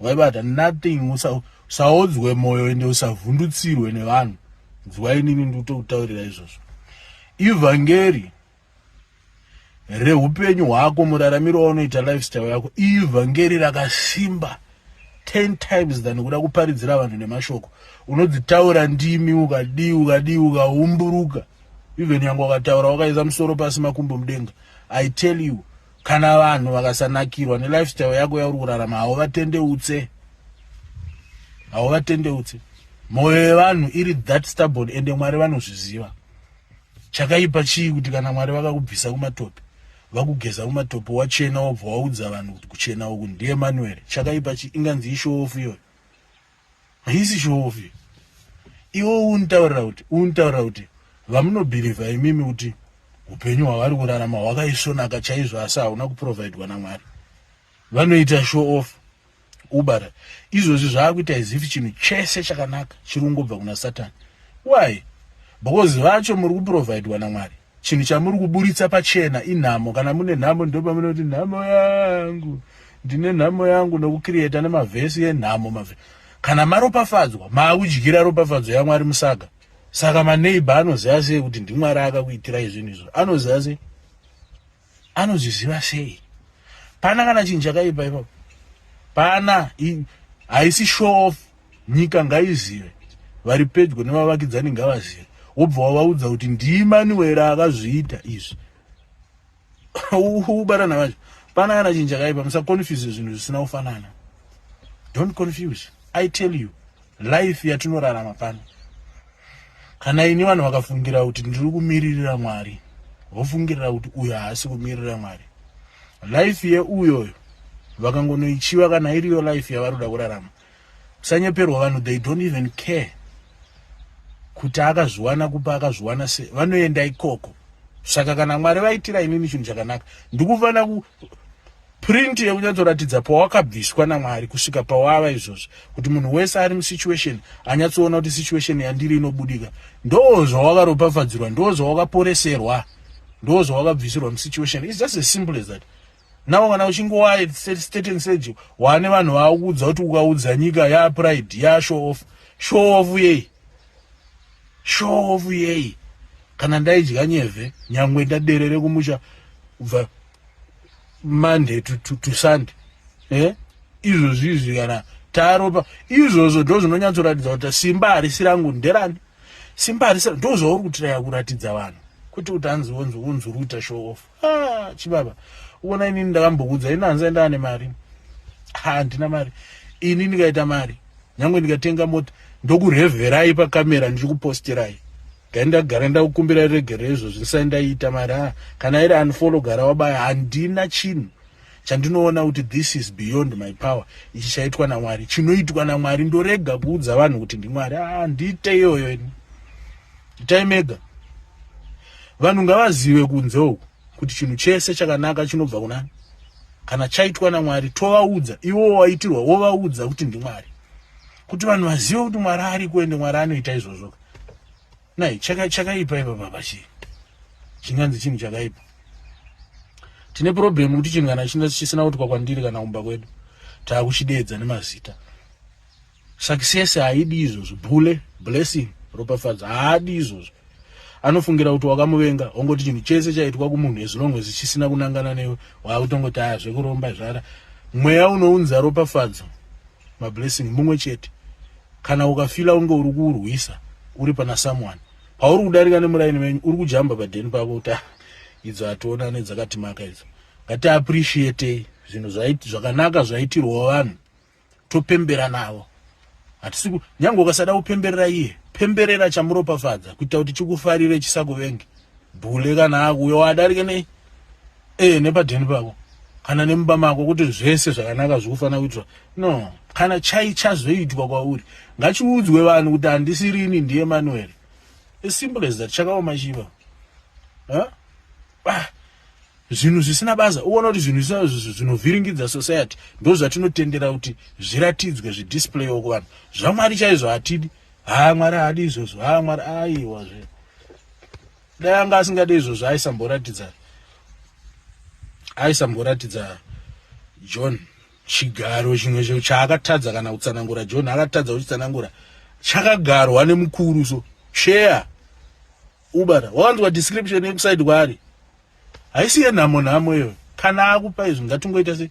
waibata nothing usaodzwe moyo ende usavhundutsirwe nevanhu nzwa inini ndikutokutaurira izvozvo ivhangeri reupenyu hwako muraramiro waunoita lifestyle yako ivhangeri rakasimba 10 times than kuda kuparidzira vanhu nemashoko unodzitaura ndimi ukadii ukadii ukaumburuka even yange wakataura wakaisa musoro pasi makumbo mudenga i tell you kana vanhu vakasanakirwa nelifestyle yako yauri kurarama hauvatendeutse hauvatendeutse mwoyo yevanhu iri that stubborn ende mwari vanozviziva chakaipa chii kuti kana mwari vakakubvisa kumatope vakugeza kumatope wachena wobva waudza vanhu kuti kuchena uku ndiemanueri chakaipa chii inganzi ishoofu iyoyo haisi show off iwe unitaurira kuti unitaurira kuti vamunobhirivha imimi kuti upenyu hwavari kurarama hwakaisvonaka chaizvo asi hauna kuprovhaidwa namwari vanoita show off ubara izvozvi zvaakuita izifi chinhu chese chakanaka chiri kungobva kuna satani why because vacho muri kuprovhaidwa namwari Chinhu chamuri kuburitsa pachena inhamo. Kana mune nhamo ndopamunoti nhamo yangu ndine nhamo yangu nokukiriyeta nemavhesi enhamo mave kana maropafadzwa maakudyira ropafadzo yamwari musaga saka maneighbor anoziva sei kuti ndimwari akakuitirai zvinhu izvo anoziva sei anozviziva sei pana kana chinhu chakaipa ipapo pana haisi show off nyika ngaizive vari pedyo nevavakidzani ngavazive wobva wavaudza kuti ndiimanuwera akazviita izvi ubatana vacho pana kana chinhu chakaipa musaconfuse zvinhu zvisina kufanana don't confuse i tell you life yatinorarama pano kana ini vanhu vakafungira kuti ndiri kumiririra mwari vofungirira kuti uyo haasi kumiririra mwari life yeuyoyo vakangonoichiva kana iriyo life yavari kuda kurarama kusanyeperwa vanhu they don't even care kuti akazviwana kupa akazviwana se vanoenda ikoko saka kana mwari vaitira inini chinhu chakanaka ndikufanira Print yekunyatsoratidza pawakabviswa naMwari kusvika pawava izvozvi kuti munhu wese ari musituation anyatsoona kuti situation yandiri inobudika ndoo zvawakaropafadzirwa ndoo zvawakaporeserwa ndoo zvawakabvisirwa musituation is just as simple as that now kana uchingowa state and sage wane vanhu vakuudza kuti ukaudza nyika ya pride ya show off show off yei show off yei kana ndaidya nyevhe nyangwe ndaderere kumusha kubva monday to, to, to sunday eh? izvozvi izvi kana taropa izvozvo ndo zvinonyatsoratidza kuti simba harisi rangu nderani simba harisi ndo zvauri kutiraya kuratidza vanhu kwete kuti hanzi wonzi wonzi uri kuita show off ah, chibaba uona inini ndakambokuudza ini hanzi aenda ane mari handina mari ini ndikaita mari nyange ndikatenga mota ndokurevherai pakamera ndichikuposterai dai ndagara ndakukumbira regero izvozvi ndisai ndaiita mari a kana iri unfollow gara wabaya handina chinhu chandinoona kuti this is beyond my power ichi chaitwa namwari chinoitwa namwari ndorega kuudza vanhu kuti ndimwari a ah, ndiite iyoyo ini itai mega vanhu ngavazive kunze uku kuti chinhu chese chakanaka chinobva kunani kana chaitwa namwari tovaudza iwo waitirwa wovaudza kuti ndimwari kuti vanhu vazive kuti mwari ari kuende mwari anoita izvozvoka nai chakaipa chaka ipa baba chii chinganzi chinhu chakaipa tine problem kuti chinhu kana chisina kutikwa kwandiri kana kumba kwedu taakuchideedza nemazita success haidi izvozvo bule blessing ropafadzo haadi izvozvo anofungira kuti wakamuvenga ongoti chinhu chese chaitwa kumunhu as long as chisina kunangana newe waakutongoti aya zvekuromba zvara mweya unounza ropafadzo mablessing mumwe chete kana ukafila unge uri kuurwisa uri pana someone pauri kudarika nemuraini venyu uri kujamba padeni pako kuti ah, idzo hationane dzakatimaka idzo ngatiappreciatei zvinhu zvakanaka zvaitirwawo vanhu topembera navo hatisi nyange ukasada kupemberera iye pemberera chamuropafadza kuita kuti chikufarire chisakuvenge bhule kana akuuya wadarike nei eh nepadheni pako kana nemumba mako kuti zvese zvakanaka zvikufanira kuitwa no kana chai chazoitwa kwauri ngachiudzwe vanhu kuti handisirini ndiye manuel as simple as that chakaoma chiva huh? ah zvinhu zvisina basa uona kuti zvinhu zvinovhiringidza society ndo zvatinotendera kuti zviratidzwe zvidisplay woko vanhu zvamwari chaizvo hatidi haa mwari haadi izvozvo haa mwari aiwazve dai anga asingade izvozvo aisamboratidza aisamboratidza john chigaro chimwe cho chaakatadza kana kutsanangura john akatadza kuchitsanangura chakagarwa nemukuru so share ubata wakanzwa description yekusaidi kwaari haisi yenhamo nhamo iyo kana akupa izvi ngatingoita se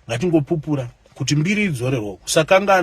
ngatingopupura kuti mbiri idzorerwo kusakangana